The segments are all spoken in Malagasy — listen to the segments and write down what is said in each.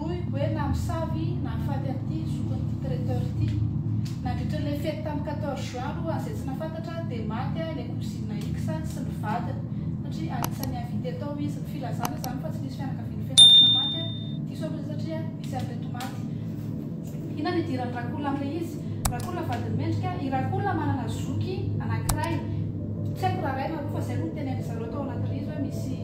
Hoy Gwen Amosavy nahafaty an'ity zokin'ity traiteur ity. Nandritra ilay fety tamin'ny quatorze juin aloha raha izay tsy nahafantatra dia maty ilay cousine X sy ny vadiny satria anisan'ny invité tao izy. Ny filazana izany fa tsy nisy fianakavian'ny fianarana maty diso amin'ireny satria misy an'ireto maty. Inona no idiran'i Rakola amin'ilay izy? Rakola vadin'i Mendrika, i Rakola manana zoky anankiray, tsy haiko raha ray na roa fa izay no notenenin'izareo tao anaty rihzy hoe misy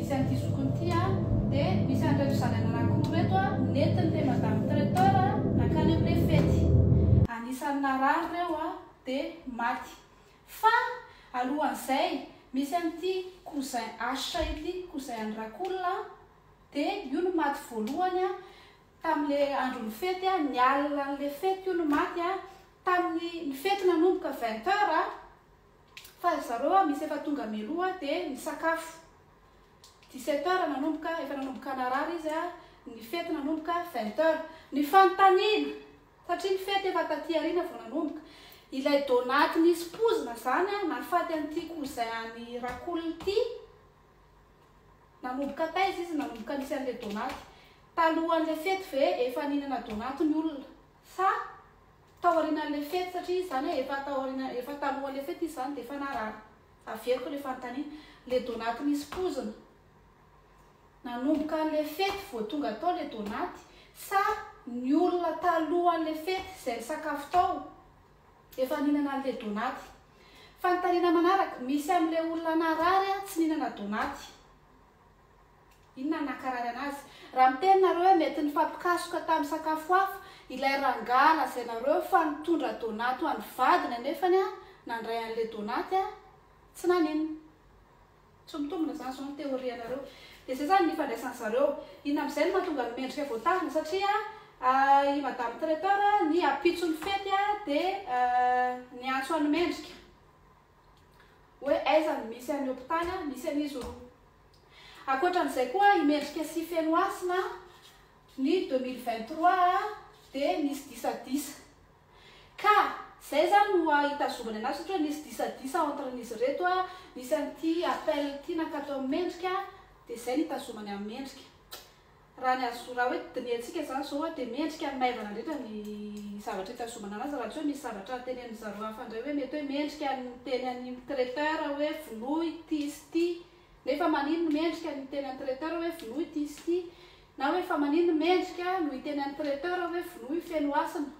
Misy an'ity zokiny ity a. Dia misy an'ireto zanany anankiroa ireto a, nentin'ilay madame traiteur nankany amin'ilay fety. Anisan'ny narary ireo a, dia maty. Fa alohan'izay, misy an'ity cousin H ity, cousin an'i Rakolona a, dia io no maty voalohany a, tamin'ilay andron'ny fety a, ny alin'ilay fety io no maty a, tamin'ny, ny fety nanomboka vingt heures a. Fa ry zareo a misy efa tonga mialoha de nisakafo. 17 heures nanomboka, efa nanomboka narary izy a, ny fety nanomboka 20 heures. Ny fanontaniana, satria ny fety efa taty aoriana vao nanomboka, ilay donate nisy pozina zany a nahafaty an'ity cousin an'i Rakoul ity, nanomboka taiza izy nanomboka nisy an'le donate? Talohan'le fety ve efa nihinana donate ny olona? Sa tao aorianan'ilay fety satria izy izany hoe efa tao aoriana efa talohan'ilay fety izy izany dia efa narary. Averiko ilay fanontaniana. Ilay donaty nisy pozina. Nanomboka an'ilay fety vao tonga tao ilay donaty sa ny olona talohan'ilay fety izay nisakafo tao efa nihinana an'ilay donaty? Fanontaniana manaraka, misy amin'ilay olona narary tsy nihinana donaty. Inona no nahakararana azy? Raha miteny nareo hoe mety nifampikasoka tamin'ny sakafo hafa ilay rangaha lazainareo fa nitondra donaty ho an'ny vadiny anefany nandray an'ilay donaty tsy naninona. Tsy mitombina izany izao ny théorie anareo. Dia izay izany ny ifandraisan'ny zareo. Inona amin'izay no mahatonga ny mendrika voatazona satria i madame traiteur ny ampitson'ny fety dia niantso an'i mendrika. hoe aiza no misy an'ny hopitaly an, misy an'izy roa. Ankoatran'izay koa i Mendrika sy Fenohasina ny deux mille vingt trois dia nisy disadisa. Ka izay izany no hitazomana anazy ohatra hoe nisy disadisa entre an'izy ireto an, nisy an'ity appel ity nankatao amin'ny Mendrika dia izay no hitazomany an'i Mendrika. Raha ny azo raha hoe dinihantsika izany izao dia mendrika ny maivana indrindra ny zavatra hitazomana anazy raha tsy hoe misy zavatra tenenin-dry zareo hafa indray hoe mety hoe mendrika ny miteny an'i traiteur hoe vonoy ity sy ity nefa maninn no mendrika ny hiteny an'i traiteur hoe vonoy ity sy ity na hoe fa maninn no mendrika no hiteny an'i traiteur hoe vonoy feno hasina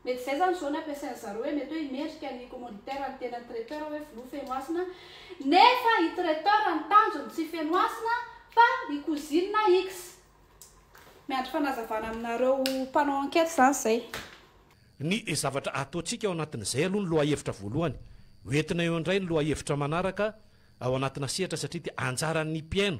Mety izay izany izao ny ampiasain'ny zareo hoe mety hoe i mendrika ny commanditaire ny tenan'ny traiteur hoe vonoy Fenohasina nefa i traiteur ny tanjony tsy Fenohasina fa i cousine X. Miandry fanazavana aminareo mpanao enquête izany izay. Ny zavatra ataontsika ao anatin'izay aloha ny lohahevitra voalohany. Hoentina eo indray ny lohahevitra manaraka ao anatina sehatra satria dia anjaran'ny mpihaino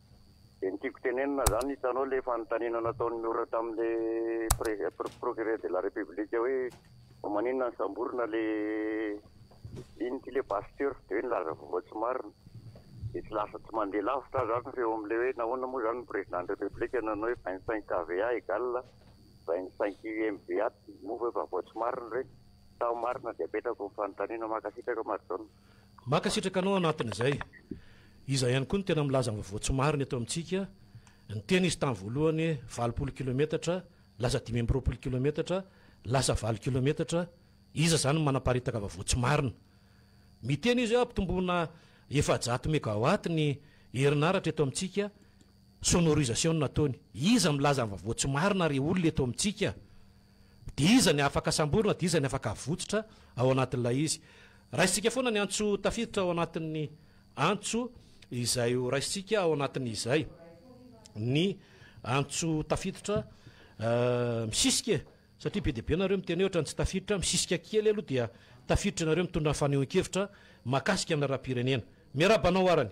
Dia ny tiako tenenina zany hitanao ilay fanontaniana nataon'i Miora tamin'ilay Procureur de la République hoe maninona nosamborina ilay inn ty le Pasteur dia hoe nilaza vaovao tsy marina dia tsy lasa tsy mandeha lavitra aza ary ny feo amin'ilay hoe nahoana moa zany ny Président de la République nanao hoe vingt cinq KVA égale vingt cinq UMBA moa ve vaovao tsy marina ireny sa marina dia apetrako ny fanontaniana mankasitraka Marjaona. Mankasitraka anao anatin'izay. Iza ihany koa no tena milaza ny vaovao tsy marina eto amintsika? Niteny izy tamin'ny voalohany hoe valopolo kilometatra, lasa dimy amby roapolo kilometatra, lasa valo kilometatra. Iza izany no manaparitaka vaovao tsy marina? Miteny izy hoe hampitomboana efajato megawatt ny herinaratra eto amintsika. Sonorisation no nataony. Iza milaza ny vaovao tsy marina ry olona eto amintsika? Dia iza ny afaka samborina dia iza ny afaka avotsotra ao anatin'ilay izy? Raisintsika foana ny antso tafiditra ao anatin'ny antso izay ho raisintsika ao anatin'izay. Ny antso tafiditra misisika e! Satria be dia be nareo miteny hoe ohatran'ny tsy tafiditra, misisika kely aloha dia tafiditra ianareo mitondra fanehoan-kevitra mahakasika ny lalam-pirenena. Miarahaba anao arany.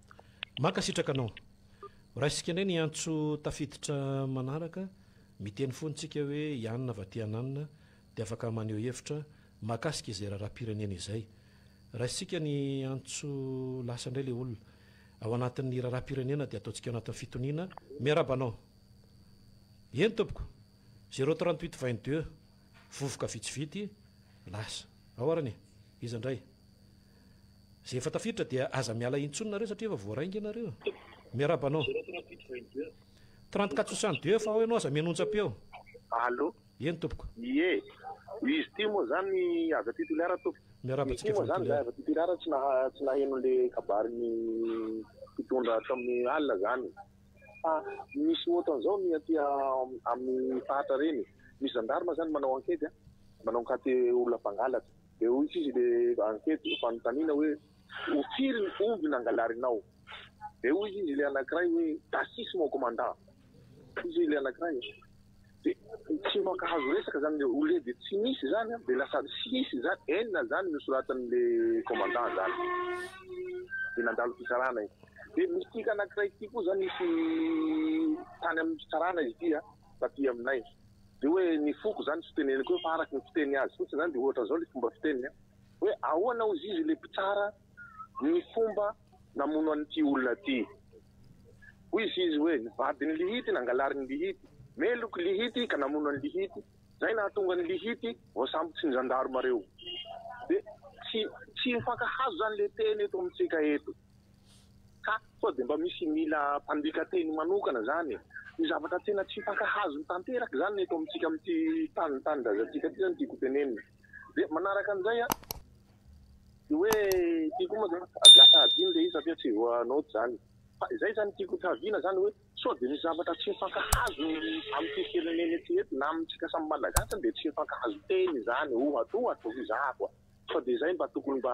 Mankasitraka anao. Raisika indray ny antso tafiditra manaraka, miteny fony tsika hoe ianona va ty ananona dia afaka maneho hevitra mahakasika izay raharaham-pirenena izay. Raisitsika ny antso lasa indray le olona. Ao anatin'ny raharaham-pirenena dia ataontsika ao anatin'ny fitoniana. Miarahaba anao. Eny tompoko. Zero trente huit vingt deux. Vovoka vitsivity lasa. Ao arany e. Iza indray. Izay efa tafiditra dia aza miala intsony nareo satria efa voaray nge nareo. Miarahaba anao. Trente quatre soixante deux fa ao ianao aza mihaino onjam-peo. Allo. Eny tompoko. Ie. Izy ity moa zany avy aty Toliara tompoko. Miarahaba antsika avy any Toliara. Izy ity moa zany avy aty Toliara tsy naha tsy naheno le kabarin'ny mpitondra tamin'ny alina zany fa misy ohatran'izao ny aty amin'ny faritra reny. Misy zandarma zany manao ankety a. Manao ankate olona mpangalatra. Dia hoy sisa ilay ankety ho fanontaniana hoe, Ho firy ny omby nangalarinao? Dia hoy izy ilay anankiray hoe, Tasis mon commandant. Hoy ilay anankiray, Dia tsy mankahazo resaka izany le au lieu de tsy misy izany an, dia lasa sis izany, enina izany no soratan'ilay commandant izany. Dia nandalo fitsarana izy. Dia misy anankiray ity koa izany nisy tany amin'ny fitsarana izy ity an, taty aminay. dia hoe ny foko izany tsy teneniko hoe fa araka ny fiteny azy fotsiny izany dia ohatra izao ilay fomba fiteniny an, hoe ahoana hozy izy ilay mpitsara ny fomba namono an'ity olona ity? hoy izy izy hoe ny vadin'i Lihity nangalarin'i Lihity meloky Lihity ka namono an'i Lihity, izay nahatonga an'i Lihity voasambotry ny zandarma ireo. Dia tsy tsy mifankahazo izany ilay teny eto amintsika eto. Ka sao dia mba misy mila mpandika teny manokana izany e! Io zavatra tena tsy mpankahazony tanteraka izany ny eto amintsika amin'ity tany tanindrazantsika ity izany no tiako hotenenina. Dia manaraka an'izay an, dia hoe ity koa moa izany sady lasa hadino ilay izy satria tsy voa-note izany. Fa izay izany no tiako hotraviana izany hoe sao dia misy zavatra tsy mpankahazony amin'ity firenena ity eto na amintsika samy Malagasy dia tsy mpankahazon-teny izany ohatra ohatra no hizahako a! Sao dia izay mba tokony mba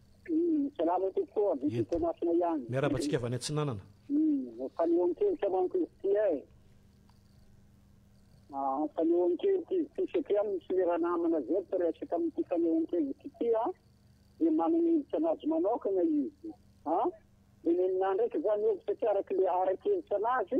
Salama tompoko ô, Didier Toamasina ihany. Miarahaba antsika avy any Atsinanana. Fanehoan-kevitra manko izy ity e. Ah, fanehoan-kevitra izy ity satria misy lera namana izay mpiresaka amin'ity fanehoan-kevitra ity a, dia manana hevitra anazy manokana izy a. Dia neninahy ndraiky izany hevitra tsy araka ilay ara-kevitra anazy.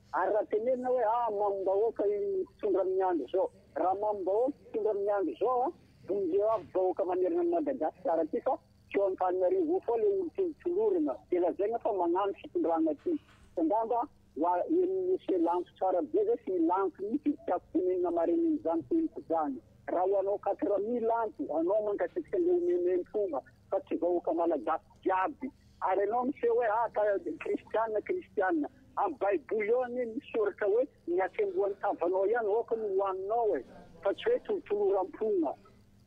Ary raha tenenina hoe ah mamim-bahoaka io mpitondra amin'ny andro izao, raha mamim-bahoaka io mpitondra amin'ny andro izao an, vonjeo aby vahoaka manerana an'i Madagasikara aty fa tsy eo Antananarivo eo foana ilay olon-tiany tolorana dia lazaina fa mañano fitondrana aty fa ngamba wa en'ny monsieur lanto tsara be zay sy lanto mitsy tsy tiako tenenina marenen'izany teniko zany raha ho anao quatre mille lanto anao mankasitraka ilay omena entona fa tsy vahoaka malagasy jiaby. Ary enao miseho hoe ah ka kristiana kristiana. Am baiboly ao anie misy soratra hoe ny asembohan'ny tavanao ihany aoka no hohaninao e. Fa tsy hoe tolotoloram-ponina.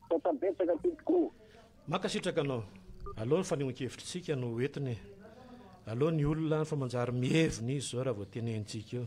Misaotra betsaka tompoko. Mankasitraka anao. Aleo ny fanehoan-kevitritsika no ho entiny e. Aleo ny olona fa manjary mihevina izy zao raha vao tenenintsika eo.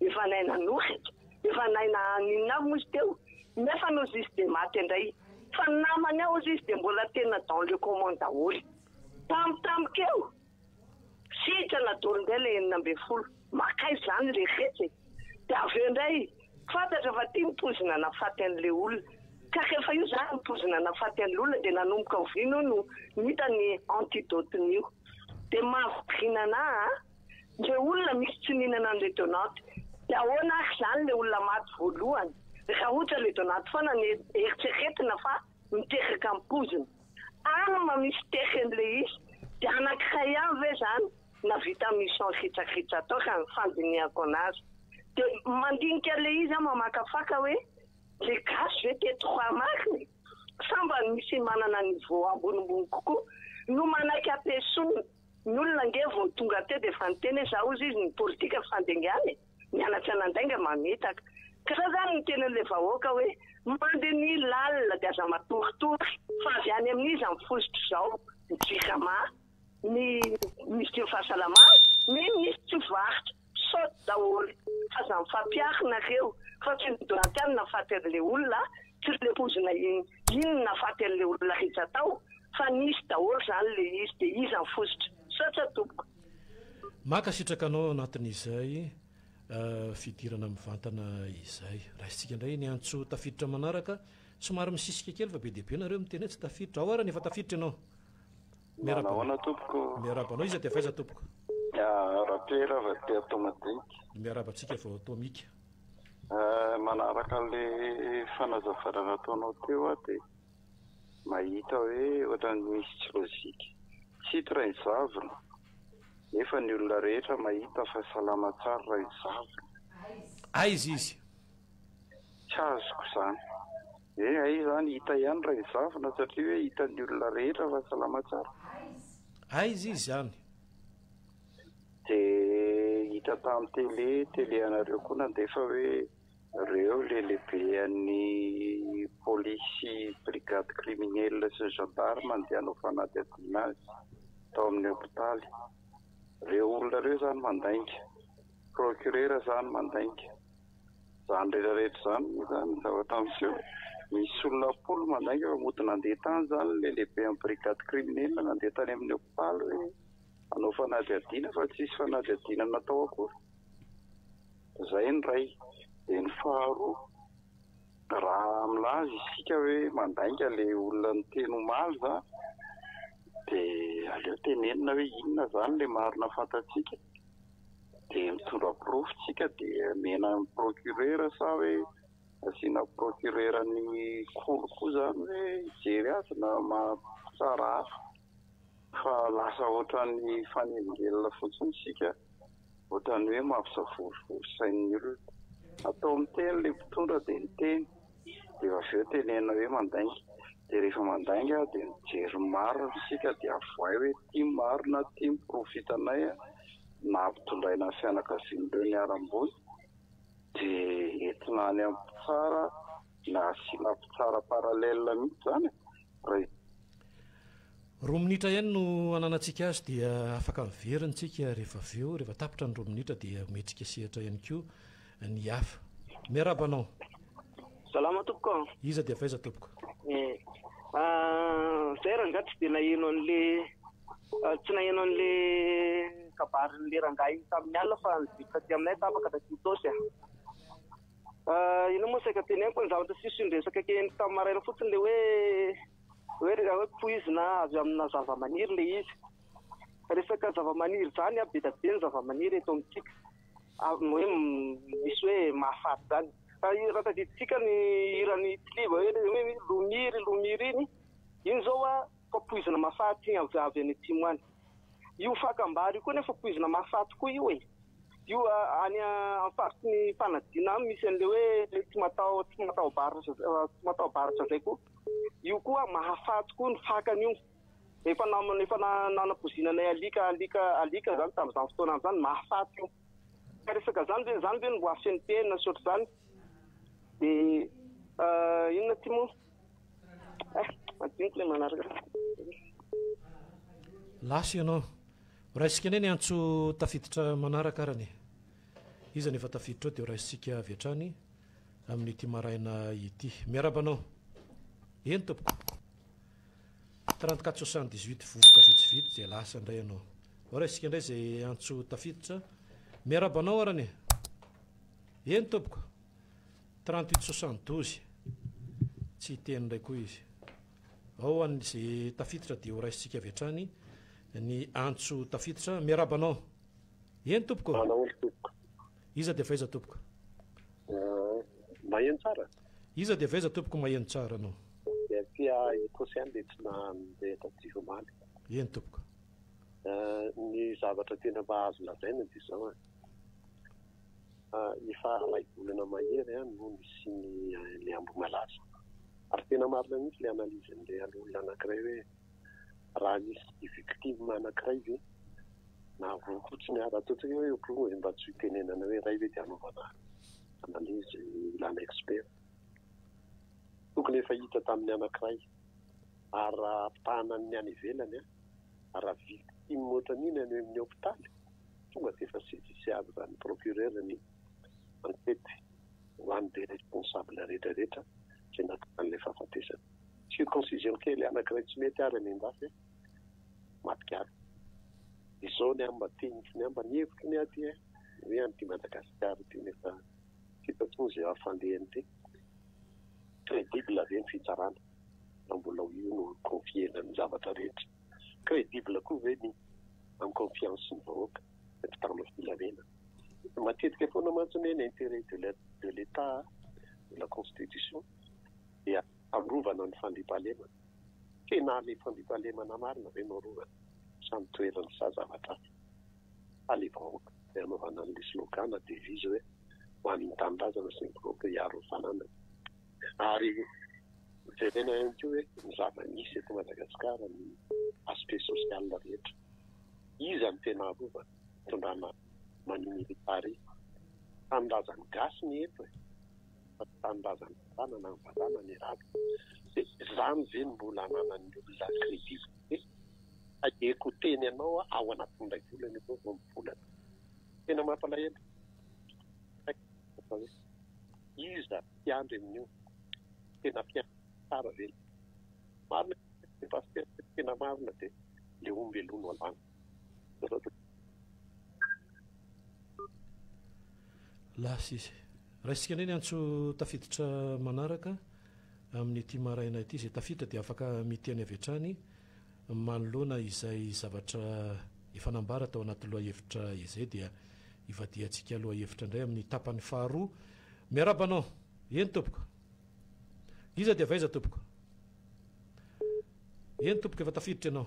Efa nahay nanosika, efa nahay naninona aby moa izy teo, nefa hozy izy dia maty indray. Fa ny namany hozy izy dia mbola tena dans le comment daholo. Tam tam keo, sitrana daholo indray ilay enina ambin'ny folo. Makaiza izany ilay fety e! Dia avy eo indray, fantatra fa ity ny poizina nahafaty an'ilay olona. Ka rehefa io izany ny poizina nahafaty an'ilay olona dia nanomboka oviana hono no hita ny antidote-n'io. Dia mahavariana an'ahy an! le olona misy tsininan an le donat de ahoana ary zany le olona maty voalohany raha ohatra le donat foana no eritreretina fa miteraka ampoizina any ma misy terreny le izy de anakiray ihany ve zany na vita mission ritsaritra atao raha ny fandinihako anazy de mandinika le izy an mamakafaka hoe le gasy ve teto raha marina e Sambany misy manana niveau ambonimbony kokoa no manaiky ampiesonina. Ny olona ange vao tonga teo dia efa niteny hoe za hozy izy ny politika fa fandengan e! Mianatra nandainga mamitaka. Ka zao zany ny tenin'ilay vahoaka hoe mandinihy lalina dia aza matoritory fa avy any amin'iza ny fositry zao ny JKMA? ny minisitry ny fahasalamana, ny minisitry tsy varotra, saute daholo fa aza mifampiarinareo fa tsy midona aty any nahafaty anle olona tsy le pozina iny nahafaty anle olona rehetra tao fa nisy daholo zany le izy de iza ny fositra? Misaotra tompoko. Mankasitraka anao anatin'izay fidirana mivantana izay. Raisintsika indray ny antso tafiditra manaraka. Somary misisika kely fa be dia be nareo miteny hoe tsy tafiditra. Ao ary ny efa tafiditra ianao. Miaraba anao tompoko. Miaraba anao, iza dia avy aiza tompoko? Ah, Rapiera avy aty Atomadinika. Miaraba antsika vao Atomika. Eh, manaraka an'ilay fanazavana nataonao teo aho dia mahita hoe ohatran'ny misy tsy logique. Tsito Rainizavona, nefa ny olona rehetra mahita fa salama tsara Rainizavona. Aiza izy? Tsy azoko izany. Ee hay izany hita ihany raha ezafina satria hoe hitan'ny olona rehetra fa salama tsara. Aiza izy any? De hita tam tele tele anareo koa nandefa hoe reo le lehibe an'ny polisy sy brigade criminelle sy ny gendarme andeha hanao fanadihadiana azy tao amin'ny hopitaly. Reo olona reo zany mandainga. Procureur zany mandainga. Izany rehetra rehetra izany moa izany ny zavatra miseho. Misy olona am-polo mandainga fa mody nandeha tany izany ilay lehiben'ny brigade criminelle, nandeha tany amin'ny hopitaly hoe hanao fanadihadiana fa tsy nisy fanadihadiana natao akory. Izay ny iray. Dia ny faharoa, raha milaza isika hoe mandainga ilay olona niteny omaly izany dia aleo tenenina hoe inona izany ilay marina fantatsika dia mitondra porofo tsika dia omena ny procureur sa hoe asiana procureur ny kolo koa izany hoe hijery azy na mampitsara hafa fa lasa ohatran'ny fanelingelina fotsiny isika ohatran'ny hoe mampisavorovoro sain'ny olona, atao miteny ilay mpitondra dia miteny. dia avy eo tenenina hoe mandainga, dia rehefa mandainga dia mijery ny marina isika dia avohay hoe ity ny marina, ity ny porofitanay na ampitondraina ny fianakavian'ireo niharam-boina dia entina any amin'ny mpitsara na asiana mpitsara parallèle mihitsy izany e! raha Roa minitra ihany no ananantsika azy dia afaka miverina isika rehefa avy eo, rehefa tapitra ny roa minitra dia omentsika sehatra ihany koa ny hafa. Miarahaba anao. Salama tompoko a. Iza dia avy aiza tompoko? Eh, zay rangahy tsy dia naheno an'le ah, tsy naheno an'le kabarin'le rangahy tamin'ny alina fa nidiritra taty aminay tapaka taty Itaosy a. Ah, ah, ino moa saika teneniko ny zavatra sisy ny resaka kely tamin'ny maraina fotsiny le hoe hoe raha hoe poizina avy amina zavamaniry le izy. Resaka zavamaniry izany a, be dia be ny zavamaniry eto amintsika. hoe misy hoe mahafaty izany. Raha tadidintsika ny hiran'i Tiliba hoe Lomia ry Lomia ry, iny izao fa poizina mahafaty avy avy any atsimo any. Io fakam-bary io koa anefa poizina mahafaty koa io e! Io any amin'ny faritry ny fanadina any misy an'ilay hoe tsy mataho tsy mataho-baratra tsy mataho-baratra izay koa. Io koa mahafaty koa ny fakany io. Efa nam- efa na- nanapoizina anay alika alika alika zany tamin'izany fotoana izany mahafaty io ka resaka zany ve zany ve no mbo asian'ny PM sy ohatr'izany de euh, inona ty moa eh madiniko ilay manaraka lasa ianao raisika anie ny antso tafiditra manaraka arany e. iza no efa tafiditra ao dia raisitsika avy hatrany amin'ity maraina ity miaraba anao eny tompoko Trente quatre soixante dix huit vovoka vitsivitsy dia lasa indray ianao. Ao ary isika indray izay antso tafiditra. Miarahaba anao arany e. Eny tompoko. Trente huit soixante douze. Tsy hiteny indray koa izy. Ao an'ny izay tafiditra dia horaisintsika avy hatrany ny antso tafiditra. Miarahaba anao. Eny tompoko. Manao olo tompoko. Iza dia faiza tompoko? Maheno tsara? Iza dia faiza tompoko maheno tsara anao? Dia aty Ecosia dia tsy nandeha taty omaly. Eny tompoko. Ny zavatra tena mba azo lazaina dia izao an. Efa iray volana mahery no nisian'ilay Ambohimalaza. Ary tena marina mihitsy ilay analyse an'ilay olona anankiray hoe. raha nisy victime anankiray ve na voa fotsiny ary raha toa tsy hoe problème dia mba tsy ho tenenana hoe iray ve dia hanaovana analyse ilana expert tokony efa hita tamin'ny anankiray ary raha ampitahana ny any ivelany a raha victime ohatran'iny any amin'ny hôpitaly tonga dia efa saisissable raha ny procureur ny enquête ho an'ny be responsable rehetra rehetra izay nahatonga an'ilay fahafatesana Circoncision kely anakiray tsy mety ary amiandahy a! Maty gaga. Izao ny amba teny tsy ny amba ny hevitro ny aty a! Hoe an'ity Madagasikara ity nefa tsy hita intsony izay hafaliany ity. Credible ve ny fitsarana raha mbola ho io no confier-na ny zavatra rehetra? Credible koa ve ny am confiance ny vahoaka, ny mpitandro filamena? Matetika foana mantsy ny hoe l'interet de l'etat de la constitution. dia arovana ny fandriampahalemana. Tena le fandriampahalemana marina ve no arovana sa ny toerany sa zavatra hafa? Fa le vahoaka no anaovana an'le slogan na devise hoe ho an'ny tanindrazana sy ny vahoaka hiaro ny fananany. Ary jerena ihany koa hoe ny zava-misy eto Madagasikara, ny aspect social rehetra. Iza no tena arovana? Fitondrana Mani Militari. Tanindrazan'ny gasy ny eto e! fa tsy tanindrazan'ny vatànana ny vatànana i Raby. Dia izany ve no mbola ananan'ny olona crédibilité? Tadieko teny anao aho ao anatin'ilay volana ianao vao mivolana. Tena mampalahelo. Iza mpiandry amin'io? Tena mpiandry tsara ve ilay izy? Marina ilay pasitera, tena marina dia ilay omby alou no alana. Lasa izy. Raisintsika indray ny antso tafiditra manaraka amin'ity maraina ity. Izay tafiditra dia afaka miteny avy hatrany manoloana izay zavatra efa nambara tao anaty lohahevitra izay dia ivadihantsika lohahevitra indray amin'ny tapany faharoa. Miarahaba anao. Eny tompoko. Iza dia avy aiza tompoko? Eny tompoko efa tafiditra ianao.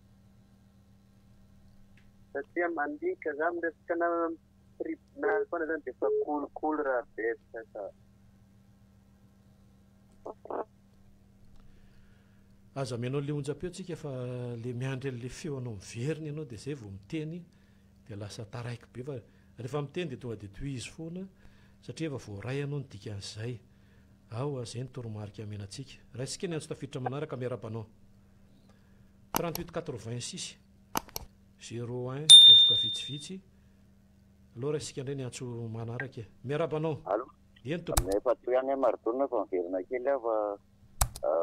Satria mandika za amin'ny resaka namana amin'ny tribunal foana zany dia efa kolikoly raha betsaka ka. Aza mihaino an'ilay onjam-peo tsika fa ilay miandry an'ilay feo anao miverina ianao dia izay vao miteny dia lasa taraiky be fa rehefa miteny dia tonga dia tohizo foana satria efa voaray ianao ny dikan'izay. Aoa izay ny toromarika amena antsika. Raisika ny antso tafiditra manaraka, miarahaba anao. Trente huit quatre vingt six zero un vovoka vitsivitsy aloha raha isika indray ny antso manaraka e. Miarahaba anao. Allo. Eny tompoko. Aminay efa teo ihany Maridona fa miverina kely aho fa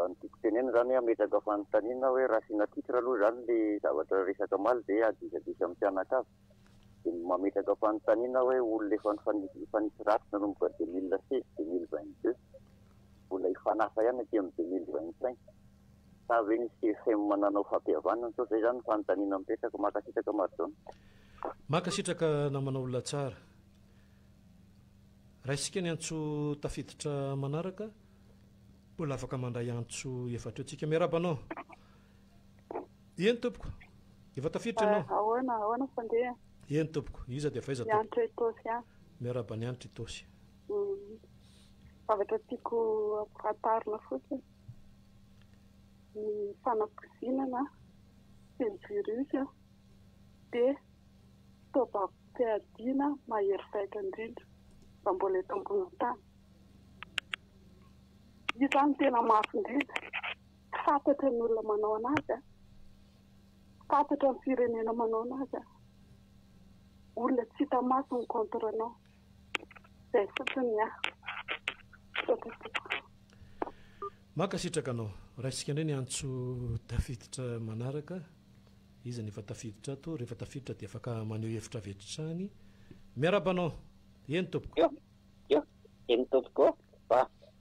ny tiako tenenina izany hoe hametraka fanontaniana hoe raha asiana titre aloha izany ilay zavatra resaka omaly dia aza disadisa amin'ny mpianakavy. Dia mametraka fanontaniana hoe olona efa nifanisy ratsy nanomboka deux mille seize deux mille vingt deux mbola hifanasa ihany aty amin'ny deux mille vingt cinq. Sa ve ny CFM nanao fampihavanana sao zay zany ny fanontaniana mipetraka. Mankasitraka Marjona. Mankasitraka namana olona tsara. Raisitsika ny antso tafiditra manaraka, mbola afaka mandray antso efatra eo tsika. Miarahaba anao. Eny tompoko. Efa tafiditra ianao. Ah, ahoana, ahoana fandeha? Eny tompoko. Iza dia faiza tompoko? Ny Anitra Itosy an. Miarahaba ny Anitra Itosy. Mm. Zavatra tiako ampifantarina fotsiny. ny fanakozinana sy ny virus dia fitaovam-piadiana mahery vaika indrindra raha mbola eto ambonin'ny tany. Hita ny tena mafy indrindra, tsy fantatra ny olona manao an'azy, tsy fantatra ny firenena manao an'azy, olona tsy hita maso ny contre-nao. Izay fotsiny ny ahy. Misaotra tompoko. Mankasitraka anao. Raisintsika indray ny antso tafiditra manaraka. Iza no efa tafiditra ato? Rehefa tafiditra dia afaka maneho hevitra avy hatrany. Miarahaba anao. Eny tompoko. Io, io, eny tompoko ô.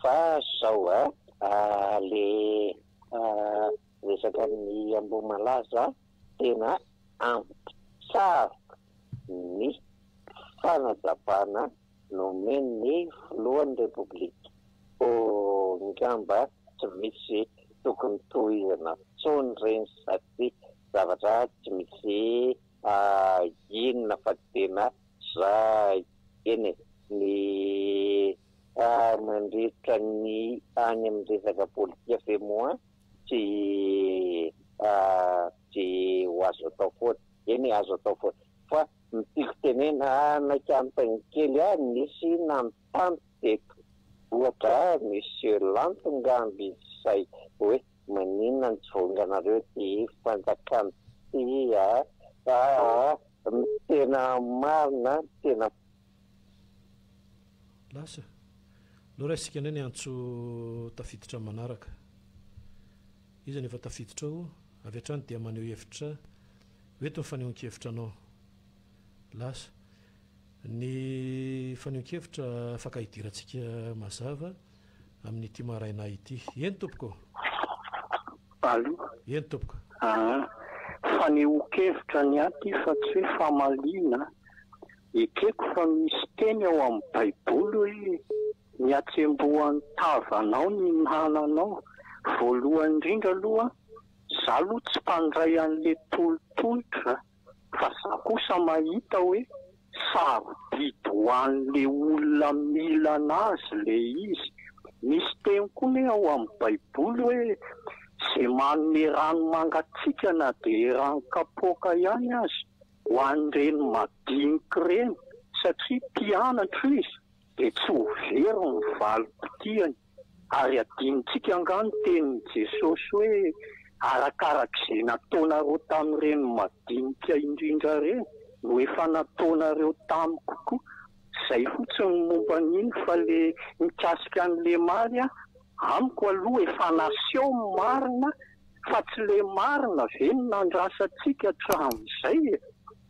Fa izao a, ilay resaka ny Ambohimalaza tena ampy. Sarotra, ny fanazavana nomen'ny filohan'ny Repoblika. Angamba tsy misy tokony tohizana intsony ireny satria zavatra tsy misy inona fa tena zay eny e! Ny mandritra ny any amin'ny resaka politika ve moa tsy ho azo atao foana? Eny azo atao foana. Fa ny tiako tenena anay Kantiny kely a nisy nanontany teto ohatra a Monsieur Lanto ngamba izy zay hoe maninona no tsy vaonganareo ty fanjakana ty a a a ny tena marina ny tena Lasa. Aleo raisitsika indray ny antso tafiditra amin'ny manaraka. Iza no efa tafiditra ao? Avy hatrany dia maneho hevitra. Ho eto ny fanehoan-kevitra anao. Lasa. Ny fanehoan-kevitra afaka hidirantsika mazava amin'ity maraina ity. Eny tompoko. Allo. Eny tompoko. Aa. Fanehoan-kevitra ny ahy ity fa tsy hoe famaliana a. Ekeko fa misy teny ao amin'ny baiboly hoe ny hatsembohan'ny tavanao ny nananao. Voalohany indrindra aloha za aloha tsy mpandray an'le tolotolotra fa za kosa mahita hoe sarobidy ho an'le olona mila anazy le izy. Misy teny koa ne ao amin'ny baiboly hoe ze manome rano mangatsiaka na de eran'ny kapoaka ihany aza. Ho an'ireny madinika ireny, satria mpianatro izy, dia tsy ho very ny valim-potiany. Ary adinontsika angaha ny tenin'i Jesosy hoe, Arakarak'izay nataonareo tamin'ireny madinika indrindra ireny no efa nataonareo tamiko koa. Izay fotsiny ny momba an'iny, fa ilay mikasika an'i Lemary an, Amiko aloha efa naseho ny marina fa tsy le marina ve no nandrasantsika hatramin'izay e?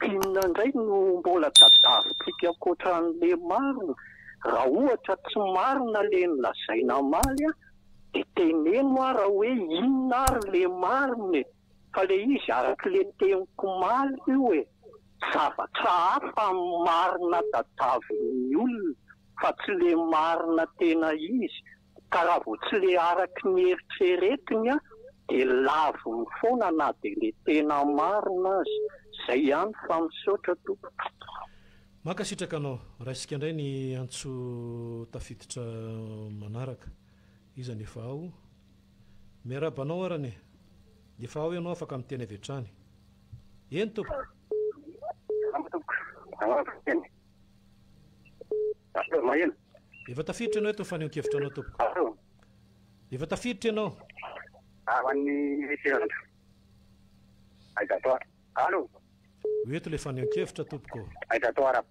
Inona indray no mbola tadiavintsika ankoatran'le marina? Raha ohatra tsy marina le nolazaina amaly dia teneno aho raha hoe inona ary le marina e? Fa le izy araky le teniko omaly io e, zavatra hafa marina tadiavin'ny olona fa tsy le marina tena izy, ka raha vao tsy le araky ny eritreretiny de laviny foana na de le tena marina aza. Zay ihany fa misaotra tompoko. Mankasitraka anao. Raisika indray ny antso tafiditra manaraka. Iza ny efa ao? Miarahaba anao arany e! Efa ao ianao afaka miteny avy hatrany. Eny tompoko! Salama tompoko! Ahoana no teny? Allô, maheno? Efa tafiditra ianao eto ny fanehoan-kevitra anao tompoko. Allô? Efa tafiditra ianao. Ao an'ny referendum. Aiza atao? Allô? Ho eto ilay fanehoan-kevitra tompoko. Aiza atao arap?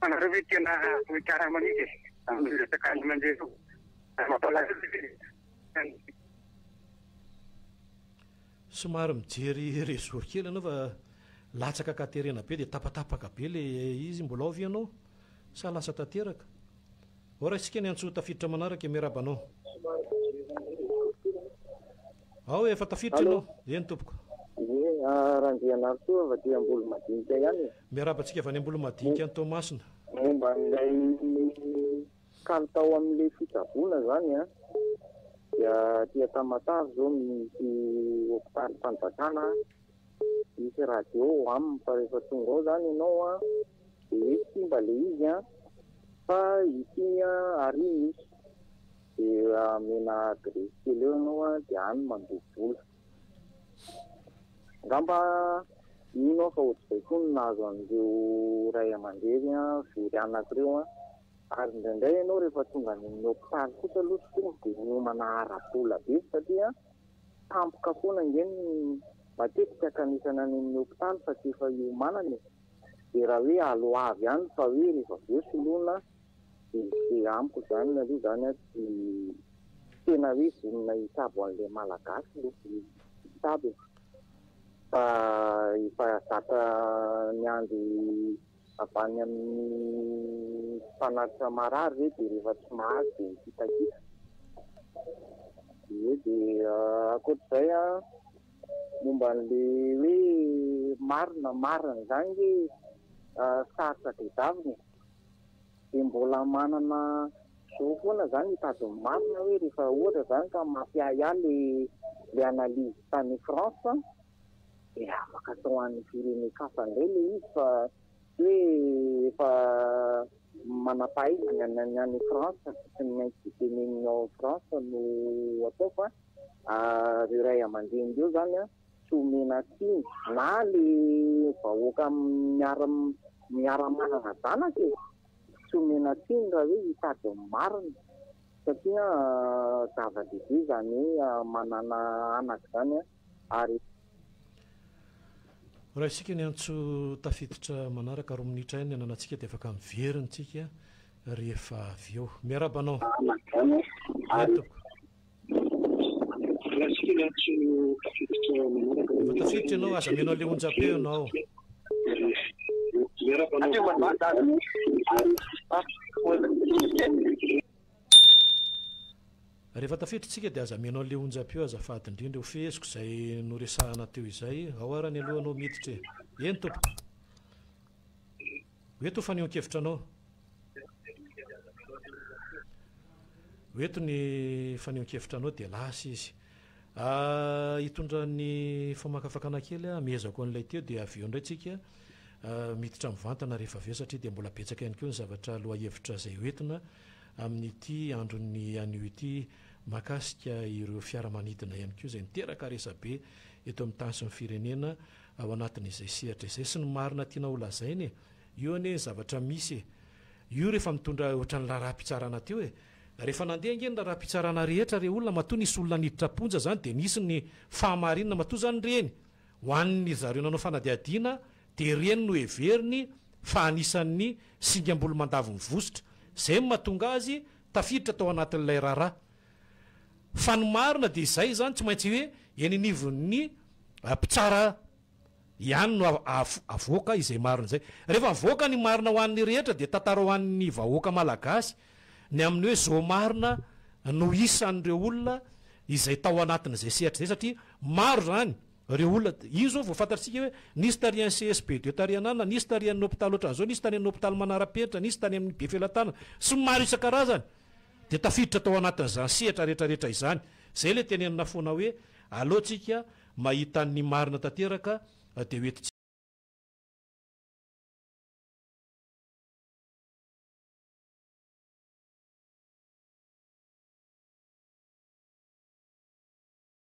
Fa nareo ve tena vohikarama mihitsy amin'io resaka andro mandeha io? Mampalahelo ve izy zany? Somary mijery réseau kely ianao fa latsaka ka terena be dia tapatapaka be ilay izy, mbola ao ve ianao sa lasa tanteraka? Ho raisika ny antso tafiditra manaraka e miarahaba anao. Ao e efa tafiditra ianao. Eny tompoko. Ie Randrianarison avy aty Ambolomadinika ihany e. Miarahaba antsika avy any Ambolomadinika any Toamasina. Momba an'ilay kalitao amin'ilay fitsaboana izany an, dia aty Tamatave izao misy hopitalim-panjakana Misy radio ao aminy fa rehefa tonga ao zany ianao an dia hoe simba ilay izy an, fa ity an ary misy dia amena adresse kely eo ianao an dia any mandoa vola. Angamba mino aho fa ohatr'izay koa no nahazo an'ireo ray aman-dreny very anaka ireo an. Ary indraindray ianao rehefa tonga any amin'ny hopitaly kosa aloha tsy tonga dia miomana ara-bola be satria an. tampoka foana ange ny matetika kanesana any amin'ny hopitaly fa tsy efa hiomanana e! dia raha hoe alo avy ihany fa hoe rehefa avy eo soloina dia amiko izany aloha izany an tsy tena hoe vonona hitsabo an'ilay malagasy aloha ny mpitsabo e! fa efa zatra miandry avy any amin'ny mpanatitra marary ve dia rehefa tsy mahazo dia mikitakita. Dia eo dia ankoatr'izay an, momba an'ilay hoe marina, marina izany ve sarotra tadiavina e. Dia mbola manana zo foana izaho ny hitady ny marina hoe rehefa ohatra izany ka mampiahiahy ilay analyse tany France. Dia afaka atao an'ny firenen-kafa indray ilay izy fa tsy hoe efa manam-pahaizana ny any France sy ny maintsy tenenina ao France no atao fa ireo ray aman-dreny ireo izany tsy omena tsiny na ilay vahoaka miara-manana zanaka e! tsy omena tsiny raha hoe hitady ny marina satria zava-dehibe izany hoe manana anaka izany an! ary. Raha isika ny antso tafiditra manaraka roa minitra ihany ny ananantsika dia afaka mivery ny tsika rehefa avy eo. Miarahaba anao. Eny tompoko. Raha isika ny antso tafiditra manaraka roa minitra ihany ny ananantsika. Efa tafiditra ianao, aza mino an'ilay onjam-peo ianao. Miarahaba anao. Rehefa tafiditra isika dia aza mihaino an'ilay onjam-peo azafady indrindra. Ho feheziko izay noresahana teo izay. Ao ara ny aloha anao miditra e! Eny tompoko. Ho eto ho fanehoan-kevitra anao. Ho eto ny fanehoan-kevitra anao dia lasa izy. Hitondra ny famakafakana kely aho, hamehezako an'ilay teo dia avy eo indray isika miditra mivantana rehefa avy eo satria dia mbola betsaka ihany koa ny zavatra lohahevitra izay ho entina. amin'ity andron'ny anio ity mahakasika ireo fiaramanidina ihany koa izay niteraka resabe eto amin'ny tany sy ny firenena ao anatin'izay sehatra izay sy ny marina tiana ho lazaina e io anie ny zavatra misy e io rehefa mitondra ohatran'ny laharaha-pitsarana teo e rehefa nandeha ange ny laharaha-pitsarana rehetra re olona matoa nisy olona niditra am-ponja izany dia nisy ny fahamarinana matoa izany ireny ho an'ny zareo nanao fanadihadiana dia ireny no heveriny fa anisan'ny singam-bolomandavin'i Vositra, izay no mahatonga azy tafiditra tao anatin'ilay raharaha. Fa ny marina dia izay izany, tsy maintsy hoe eny anivon'ny mpitsara ihany no avoaka izay marina izay. Rehefa mivoaka ny marina ho an'ny rehetra dia tantara ho an'ny vahoaka malagasy ny amin'ny hoe zao marina no isan'ireo olona izay tao anatin'izay sehatra izay satria maro izany Ireo olona, io izao vao fantatsika hoe nisy tary any CSP de tary an'Anona, nisy tary an'ny hopitaly ohatran'ny izao, nisy tany amin'ny hopitaly manara-penitra, nisy tany amin'ny Befelatanana sy ny maro isan-karazany dia tafiditra tao anatin'izany sehatra retraretra izany. Izay ilay tenenina foana hoe aleo tsika mahita ny marina tanteraka dia ho entintsika.